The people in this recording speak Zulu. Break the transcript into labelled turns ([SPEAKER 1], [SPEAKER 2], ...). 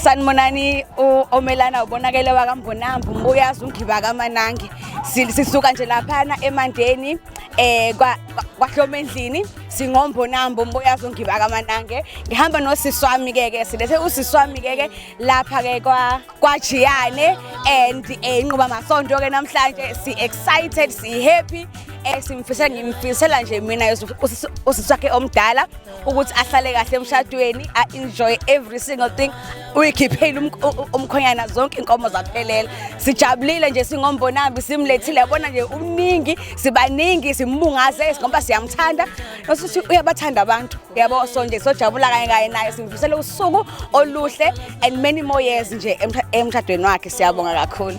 [SPEAKER 1] sanibonani omelana ubonakele wakambonambu mbuyazi ungiba kamanangi sisuka nje laphana emandeni eh kwahloma endlini singombonambo mbuyazi ungiba kamanange ngihamba nosisi wami ke ke silethe usisi wami ke ke lapha ke kwa kwajiyane and eh, inquba masonto ke namhlanje si excited si happy eh simfisela ngimfisela nje mina usisi wakhe omdala ukuthi ahlale kahle emshadweni a-enjoy every single thing uyikhiphile umkhonyana zonke inkomo zaphelela sijabulile nje singombonambi simlethile yabona nje umningi sibaningi simbungaze ngoba siyamthanda nosuthi uyabathanda abantu yabo so nje sojabula kanye kanye naye simfisele usuku oluhle and many more years nje emshadweni wakhe siyabonga kakhulu